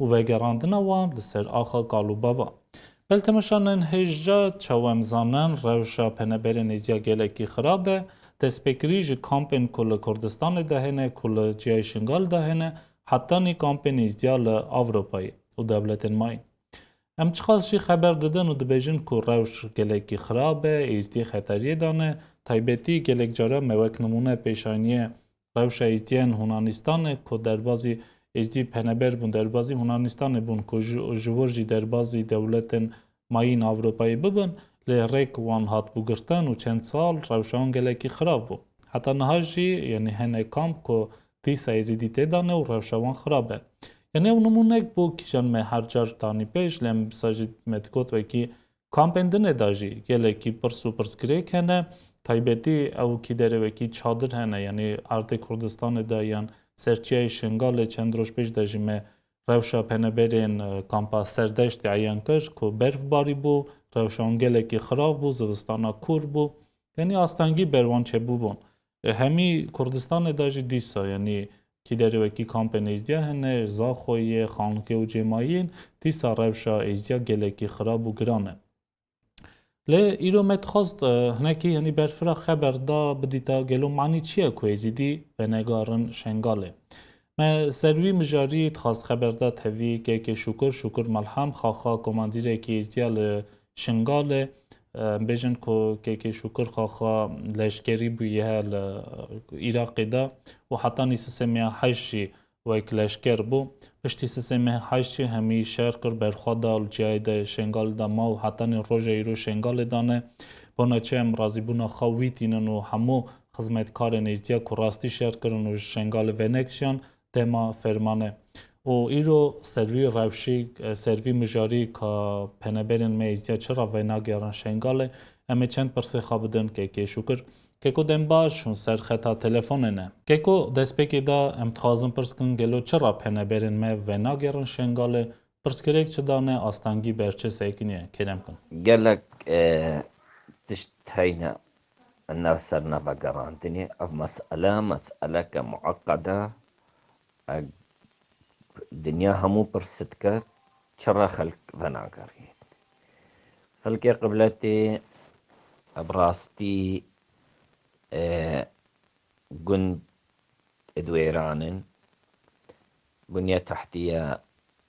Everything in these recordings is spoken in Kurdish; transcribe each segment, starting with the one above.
û vegerandina wan li ser axa kal û bava. Beltemeşa Nenhêjca çawa em zanin rewşa peneberê nêzîya gelekî xirab e, destpêkirî ji kampên ku li Kurdistanê de hene ku li ciyayê Şingal de hene hetanî kampên nêzdîya li Avropayê û dewletên mayîn. Em çiqas jî xeber didin û dibêjin ku rewş gelekî xirab e, êzdî xeteriyê de ne, taybetî gelek caran me wek nimûne pêşaniyê Rewşa Êzdiyên Hunanîstanê ku derbazî Êzdî peneber bûn derbazî Hunanîstanê bûn ku ji wir jî derbazî dewletên mayîn Ewropayê bibin lê rêk wan hatbû girtin û çend sal rewşa wan gelekî xirab bû. Heta niha jî yanî hene kamp ku dîsa Êzîdî tê de ne û rewşa wan xirab e. Yanî ew nimûnek bû kîjan me her car danî pêş lê em bisa jî me digot wekî Kampên din ê de jî gelekî pirs û pirsgirêk hene. Taybetî ew kî derê wekî çadir hene yanî erdê Kurdistanê de yan ser çiyayê Şingalê çend roj pêş de jî me rewşa peneberên kampa Serdeştê eyan kir ku berf barîbû, rewşa wan gelekî xirav bû, zivistana kûr bû. Yanî astengî ber wan çêbûbûn. Hemî Kurdistanê de jî dîsa yanî kî derê wekî kampên êzdîya hene, Zaxoyê, Xankê û cê ma yên, dîsa rewşa êzdîya gelekî xirab û giran e. Lê îro me dixwast hinekî yanî berfira xeber da bidîta gelo manî çi ye ku êzîdî venegarin Şengalê. Me ser wî mijarî dixwast xeber da tevî kekê Şukur, Şukur Malham, xaxa komandîrekî êzdîya li Şingalê bêjin ku KK Şûkir xaxa leşkerî bûye li Îraqê de û heta nî sisêmê heşt jî wek leşker bû. Piştî sisêmê heşt jî hemî şer kir, berxwe da li ciyayê de Şingalê de ma û heta nî roja îro Şingalê de ne. Bona çi em razîbûna xwe wî tînin û hemû xizmetkarên êzdiya ku rastî şer kirin û ji Şingalê venekişiyan tema fermane. û îro servî rewşî servî mijarî ka peneberên me êzdiya çi ra venageran Şengalê em ê çend pirsê xwe bidin kekê şûkir keko dem baş hûn ser xeta telefonê ne. Keko destpêkê de em dixwazin pirs kin gelo çi ra peneberên me venagerin Şengalê pirskirêk çi dane astengî ber çi sekiniye kêrem kin. Gelek tişt heyne Min nav ser nav vegerandinê. Ev mesele meseleke mueqqed e. Dinya hemû pirse dike çira xelk venagerîne. Xelkê qibletê bi rastî gund ê di wêran in. Bunya tahtîya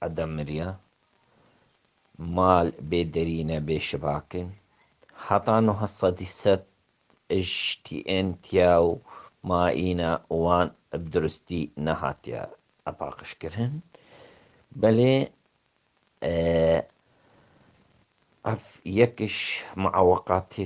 eda mirya, mal bê derî ne bê şibak in. Heta nuha sedî sed ejtî ên tiya û mayîna wan bi duristî nehatiya paqijkirin. Belê ev yekiş mueweqatê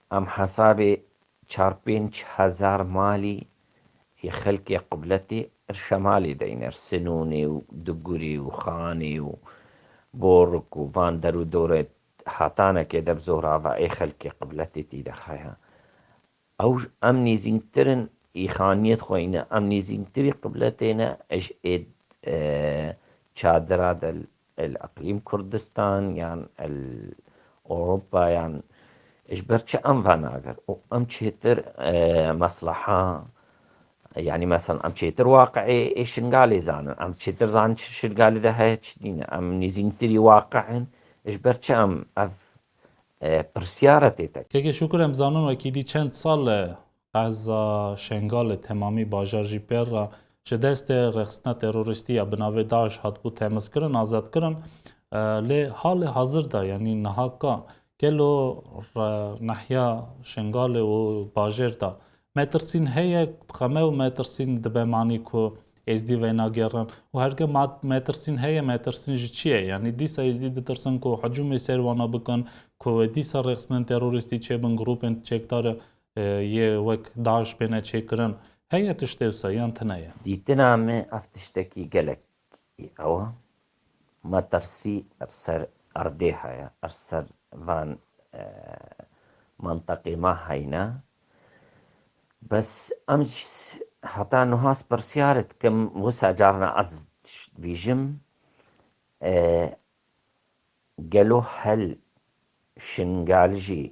Em hesabê çar pênc hezar malî yê xelkê Qubletê ir Şemalê de yin ir Sinûnê û Dugurê û Xanê û Borik û van der û dore hatanekê de bi zorava ê xelkê Qubletê tî de haya. Ew em nêzînktir in ê xaniyet xwe yin e. Em nêzînktirî Qubletê ne ê ji ê çadira de El Iqlîm Kurdistan yan El Ewropa yan ji ber çi em van agir û em çêtir mesleha yanî mesel em çêtir waqî ê Şingalê zanin, em çêtir zanin çi Şingalê de heye çi nîne, em nêzîntirî waqî in ji ber çi em ev pirsyar e tê tekirin. Keke Şukur em zanin wekî dî çend sal e Qeza Şengalê temamî bajar jî pêr re ji destê rexistina terorîstî ya bi navê DAIŞ hatibû temizkirin, azadkirin. Lê halê hazir de yanî niha ka gelo nehiya Şengalê û bajêr de metirsîn heye? Dixeme û metirsîn dibe manî ku Êzdî veynagerin û herge metirsîn heye metirsîn ji çi ye? Yanî dîsa Êzdî ditirsin ku hicûmê ser wana bikin, ku dîsa rexistinên terorîstî çêbin, grûpên çekdar yê wek DAIŞ bêne çêkirin heye tiştê wisa yan tune ye? Dîtina me ev tiştekî gelek ew e. Me tirsî li ser erdê heye, li ser van menteqê me heyne. Bes em ji heta niha ez pirsyar dikim, wisa carna ez dibîjim, gelo hel Şingalijî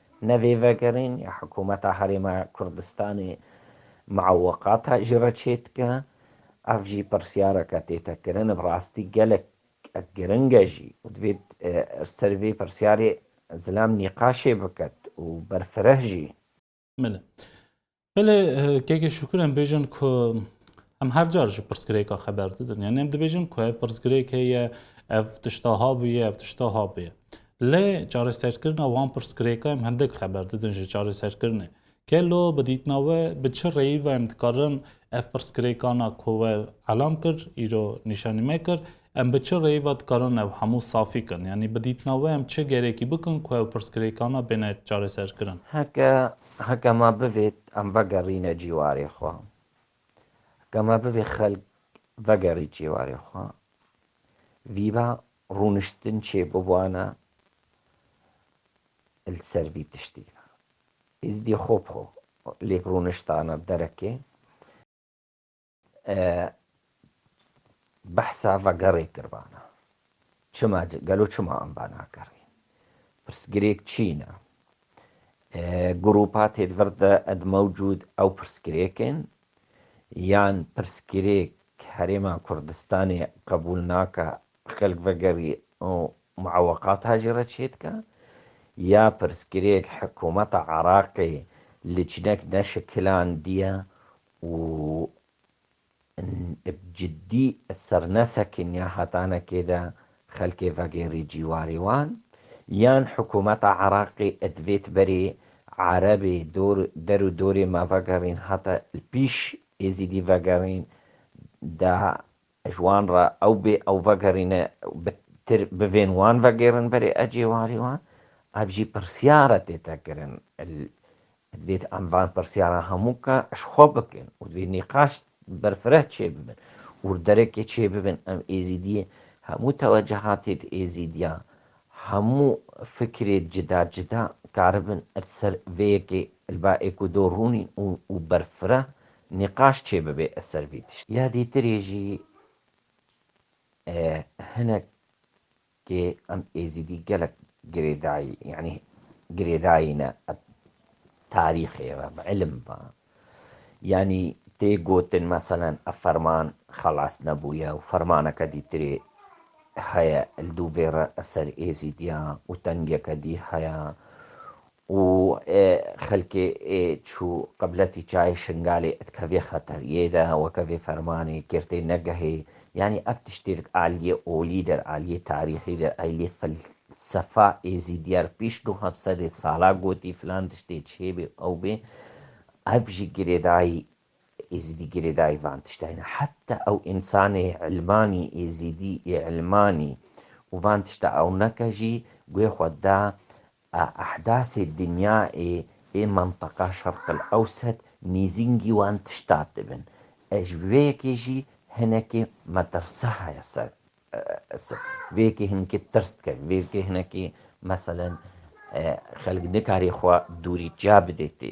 Ne vê vegerên ya Hikûmeta Herêma Kurdistanê mueweqata ji re çê dike. Ev jî pirsyareke tê te kirin, bi rastî gelek giring e jî û divê li ser vê pirsyarê zilam nîqaşê biket û berfireh jî. Min Belê kekê şükür em bêjin ku em her car ji pirsgirêka xeber didin. Yani em dibêjin ku ev pirsgirêk heye, ev tişta habûye, ev tişta habûye. Lê çareserkirina wan pirsgirêka em hindik xeber didin ji çareserkirinê. Kelo bi dîtina we bi çi rêyî ve em dikarin ev pirsgirêkana ku we elam kir, îro nîşanî me kir, Em bi çi rêyî ve dikarin ev hemû safî kin? Yanî bi dîtina we em çi gerekî bikin ku ev pirsgirêkana bêne çareserkirin? Heke heke me bivêt em vegerîne cîwarê xwe. Heke me bivê xelk vegerî cîwarê xwe. Vîba rûniştin çê biwane li ser vî tiştî ve. Êzidî xwe bi xwe lêk rûniştane derekê. Behsa vegerê kirvana çima gelo çima em ve nakerê? Pirsgirêk çîn e. Grûpa têvir de ed mewcûd ew pirsgirêk ên? Yan pirsgirêk Herêma Kurdistanê qebûl nake xelk vegerî û mueweqata jî re çêdike? Ya pirsgirêk hikûmeta Iraqê li çinek neşikilandiye û bi cidî sernesekên ya hatanekê de xelkê vegêrî cîwarê wan, yan hikûmeta Iraqê divêt berê Erebê dor der û dorê me vegerîn hate li pîş Êzîdî vegerîn da Ji wan re ew bê ew vegerîne bi tir bivên wan vegêrin berê ecêwarî wan. Ev jî pirsyar e tê te kirin. Divêt em van pirsyaran hemû ka ji xwe bikin û divê nîqaş ber fireh çê bibin û li derekê çê bibin. Em êzîdiyê hemû tewecuhatê di êzîdiya hemû fikirê cida cida karibin li ser vê yekê li ba êk û do rûnîn û ber fireh Nîqaş çê bibe ez ser vî tiştî. Ya dîtirê jî hinek kê em êzîdî gelek girêdayî yanî girêdayî ne eb tarîxê ve bi îlim ve yanî tê gotin meselen ev ferman xelas nebûye û fermaneke dîtirê heye li dûvê re li ser êzîdiyan û tengeke dî heye û xelkê ê çû qibletî çayê Şingalê dikevê xeter. Yê de weke vê fermanê kêrtê negehê. Yanî ev tiştêrk aliyê olî der, aliyê tarîxî der, aliyê felsefa êzîdiyar pîş du heft sedê sala gotî filan tiştê çê bê ew bê. Ev jî girêdayî êzîdî girêdayî van tiştayî ne. Heta ew însanê îlmanî êzîdî ê îlmanî û van tişta ew neke jî guhê xwe da A ehdasê dinyayê ê menteqa Şerqil Ewset nêzîngî wan tişta dibin. Ez ji vê yekê jî hinekê metirsa heye ser ser. Vê yekê hinekê tirs dike. Vê yekê hinekê meselen xelk nikarê xwe dûrî çiya bidê tê.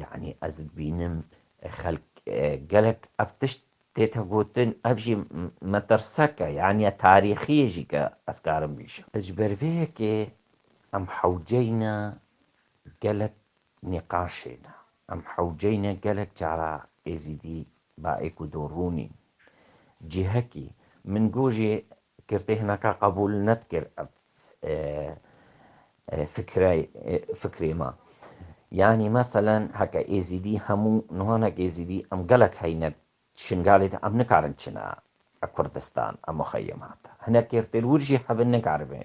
Yanî ez dibînim xelk gelek ev tişt tête gotin ev jî metirseke yanî ya tarîxî yê jî ke ez karim bîşim. Ji ber vê yekê em hewceyne gelek nîqaşê ne. Em hewceyne gelek cara Êzîdî Baê ku dûr rûnî. Cihekî, min got jî kirtê hinaka qebûl nedikir ev fikrê me. Yanî meselen heke êzîdî hemû niha ne êzîdî em gelek heyne Şingalê de em nikarin çine Kurdistan em muxeyemat. Hinek êrtêlwir jî hebin nikaribin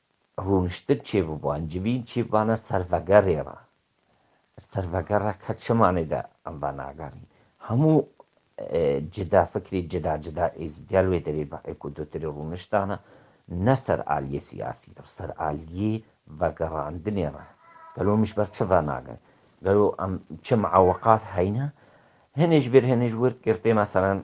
Rûniştin çê biban, civîn çê bibane ser vegerê re. Ser vegerek her çi manê de em venagerîn. Hemû cida fikrî, cida cida êz gel wê derê bi hêk û dutirê rûniştan e. Ne ser aliyê siyasî re, ser aliyê vegerandinê re. Gelo em ji ber çi venagerin? Gelo em çi miawiqat heyne? Hinê ji bêr hinê ji wir girtê meselen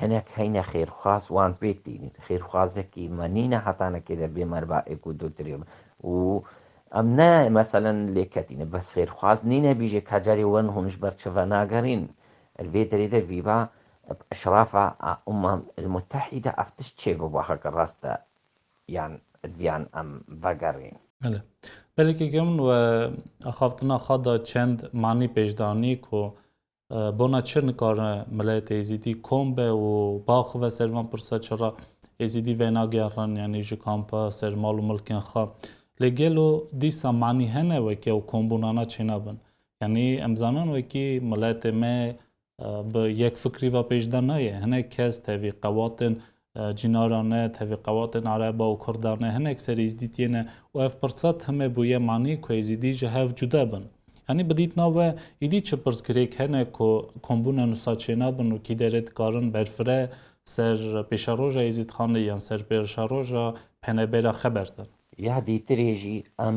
Hinek heyne xêrxwaz wan pêk tînin. Xêrxwazekî me nîne heta nekêde bê merva êk û du tirê me û em ne meselen lê ketîne bes xêrxwaz nîne bîje ka carê wen hûn ji ber çi venagerîn. Li vê derê de vîva bi eşrafa a Umam el Mutehîde ev tişt çê bibo heke rast e yan viyan em vegerîn. Belê. Belê ke kevin we axaftina xwe de çend manî pêş de anî ku Bona çi nikare milet êzidî kom be û baxive ser van pirsa çi ra êzidî venagerin yanî ji kampa ser mal û milkên xwe. Lê gelo dîsa manî hene wekî ew kombûnana çênabin? Yanî em zanin wekî miletê me bi yekfikrî ve pêş de nayê. Hinek kes tevî qewatên Cînaran ne, tevî qewatên Areba û Kurda ne, hinek serî Îzdîtiyê ne û ev pirsa timê bûye manî ku Êzîdî ji hev cuda bin. Yanî bi dîtna we îdî çi pirsgirêk hene ku kombûna nusa çênabin û kî derê dikarin berfire ser pêşeroja Êzîdxanê yan ser pêrşeroja penebêra xeber din. Ya dîtirê jî em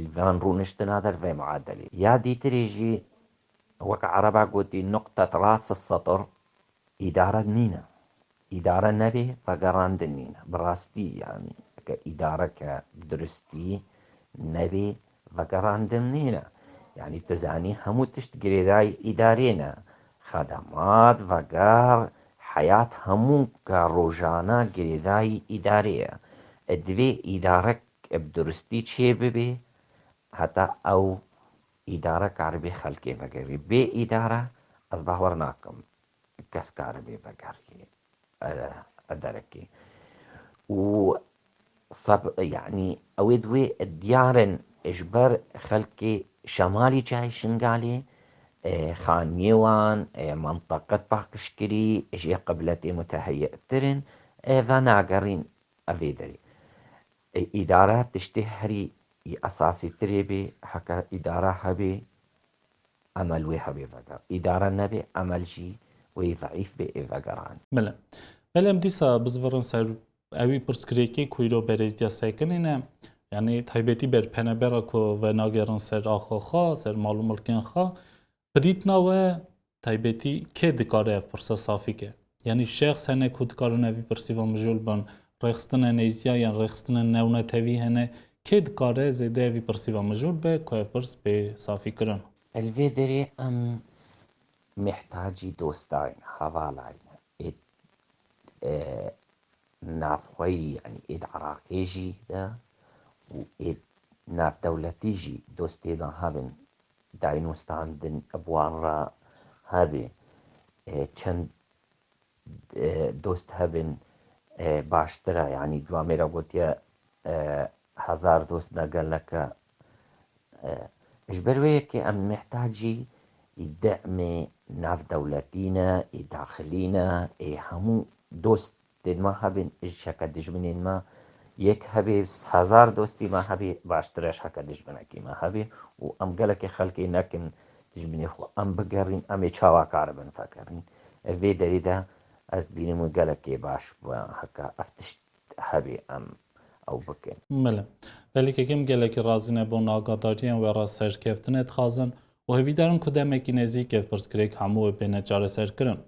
Li van rûniştina der vê muadelê ya dîtirî jî wek ereba gotî nuqtet ras setr îdare nîne. Îdare nebê vegerandin nîne. Bi rastî yanî ke îdareke bi duristî nebê vegerandin nîne. Yanî tu zanî hemû tişt girêdayî îdarê ne. Xedemat, veger, heyat hemû ka rojana girêdayî îdarê ye. Divê îdare Ev duristî çê bibê heta ew îdare karibê xelkê vegerî. Bê îdare ez bawer nakim kes karibê vegerî derekê. Û seb yanî ew ê di wê diyar in ji ber xelkê şemalî çayê Şingalê, Xaniyê wan, menteqet paqijkirî jê qibletê muteheyîtir in, venagerîn Ev ê derê îdare tiştê herî yî esasîtirê bê, heke îdare hebê emel wê hebê veger, îdare nebê emel jî wê zeîf bê ê vegeran. Bile. Belê em dîsa bizvirin ser ewî pirsgirêkê ku îro berêzdîya sekinê ne. Yanî taybetî ber penebera ku venagerin ser axa xwe, ser mal û milkên xwe. Bi dîtina we taybetî kê dikare ev pirsa safî ke? Yanî şexs hene ku dikarin ev pirsiva mijûl bin? Rêxistinên nêzdîya yan rêxistinên newnetewî hene? Kê dikare zêde ev pirsiva mijûl be ku ev pirs bê safîkirin? Li vê derê em mihtacî dostayîn, hevalayîn êd navxweyî yanî êd Iraqê jî de û êd navdewletî jî dostê niha bin Daînûstandin bi wan re hebê. Çend dost hebin baştir e. Yanî di amê re gotiye hezar dost ne gelek e. Ji ber wê yekê em mihtacî ê demê navdewletî ne, ê daxilî ne, ê hemû dost Dê ma hebin ji şeke dijminên ma yek hebê, hezar dostî ma hebê baştir e ji heke dijminekî ma hebê û em gelekî xelkê nekin dijminê xwe. Em bigerîn em ê çawa karibin vegerîn. Ev vê derê de ez dibînim wê gelekî baş bi heke ev tişt hebê em ew bikin. Mele. Pelîkeke em gelekî razî ne bi wan agadarî em we re serkeftin e dixazin û hevîdar in ku demekî nezîk ev pirsgirêk hemû wê bêne çareserkirin.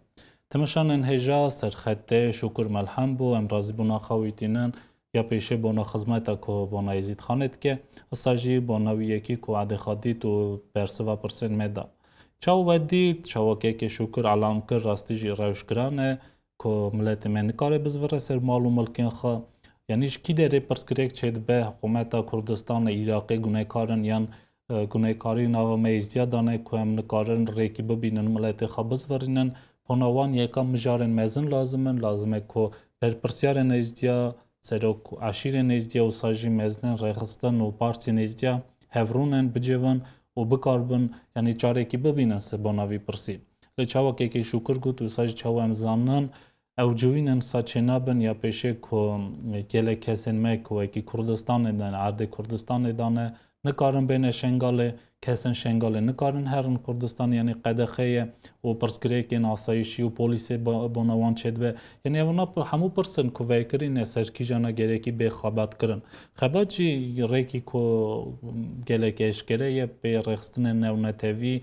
Temeşanên hêja, serxetê, Şûkur Melhem bû, em razîbûna xwe wî tînin, ya pêşê bona xizmeta ku bona Êzîd Xanê dike, issa jî bona wî yekî ku erdê xwe dît û bersiva pirsên me da. Çawa we dît, çawa kekê Şûkur elam kir rastî jî rewş giran e ku miletê me nikare bizvire ser mal û milkên xwe. Yanî ji kî derê pirsgirêk çêdibe, hikumeta Kurdistanê, Îraqê gunekar in yan guneykarî nava me îzdiya dane ku em nikarin rêkî bibînin miletê xwe bizvirînin. Pona wan yeka mijarên mezin lazim in. Lazim e ku berpirsyarên nêzdiya, serok û eşîrên nêzdiya û sa jî mezinên rêxistin û partiyên nêzdiya hevrûnin, bicivin û bikaribin yanî çarekî bibînin ser bona vî pirsî. Lê çawa KK Şûkir got wisa jî çawa em zanin Ew civînên saçê nabin ya pêşê ku gelek kesên me ku wekî Kurdistanê de ne, erdê Kurdistanê de ne, nikarin bêne Şengalê, kesên Şengalê nikarin herin Kurdistanê, yanî qedexe ye û pirsgirêkên asayîşî û polîsê bona wan çêdibe. Yanî ev na hemû pirs in ku vekirîne ser kîjan e gerekî bê xebat kirin. Xebat jî rêkî ku gelek eşkere ye pê rêxistinên newnetewî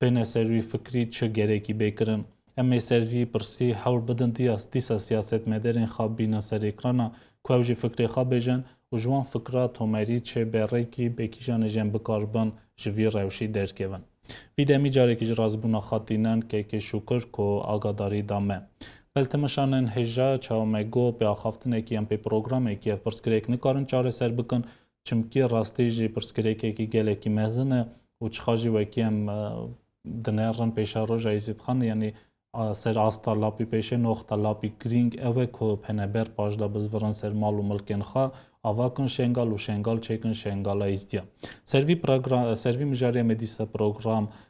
Pêne ser wî fikrî çi gerekî bê kirin. Em ê ser vî pirsî hewl bidin diyas dîsa siyasetmedarên xwe bîne ser êkrana ku ew jî fikrê xwe bêjin û ji wan fikra tomerî çê be rêkî bê kîjanê jê em bikar bin ji vî rewşî derkevin. Vî demî carekî ji razbûna xwe tînin KK şûkir ku agadarî da me. Beltemişan in hêja çawa me got pê axaftinekî yan pê programekî ev pirsgirêk nikarin çareser bikin çimkî rastî jî pirsgirêkekî gelekî mezin e û çiqa jî wekî em dinerin pêşa roja Êzîdxan yanî ser asta lapî pêşê noxta lapî girîng ew e ku peneber paş da bizvirin ser mal û milkên xwe ava kin şengal û şengal çêkin şengala Êzdiyan. Ser vî program ser vî mijarê em ê dîsa program